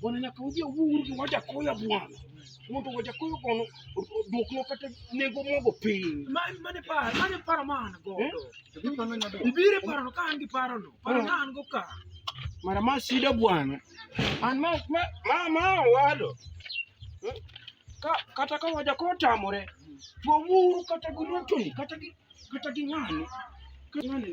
Bwana nyakaudhi owuur gi wajakoya bwana mondo wajakoyo kono duokno kata nengo mogo piny mane paro mane paro ma an godo eh? ibire parono ka an gi parono paro ma an go ka mara ma sida bwana an ma ma ma owado eh? ka kata ka wajakoyo tamore to wuuru kata gi rotoni kata gi kata gi ng'ani ng'ani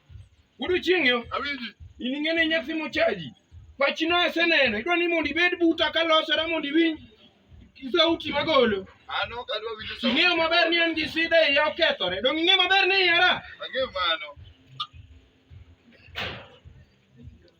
Godiechieng' yo. Awinji. In ing'eni inya simo chaji. Pachino aseneno. Idwa ni mondo ibed buta ka losore mondo iwinj sauti magolo. An ok adwa winjo sauti. Ing'eyo maber ni an gi sida e iya okethore. Donge ing'eyo maber ni iyara? Ang'eyo mano.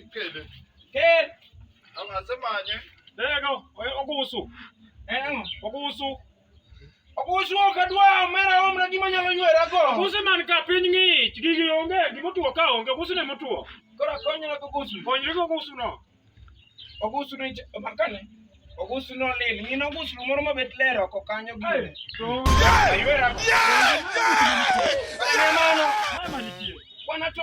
Ikele. Kel. Angasemanye. Dego, oye okusu. Engo, okusu. Okusu ok adwa omera omra gima nyalo ywera go. Okusu man ka piny ng'ich, gigi onge, gima otuo ka onge, okusu ne motuo. Koro akonyra gi okusu. Konyri gi okusu no. Okusu ni makane. Okusu no lil. Ng'in okusu moro mabet ler oko kanyo gire. Aywera go. Mano. Mama nitie. Wana to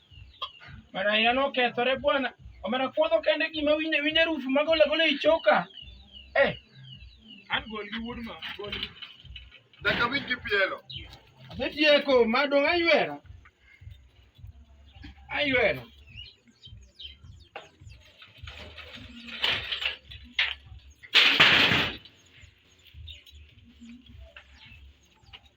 Mana ina nokethore bwana. Omera kuodho kende gima winje winje rufu magola gola i choka. Eh. An gol gi wuod ma gol. Daka wich gi pielo. Asetieko madong' aywera. Aywera.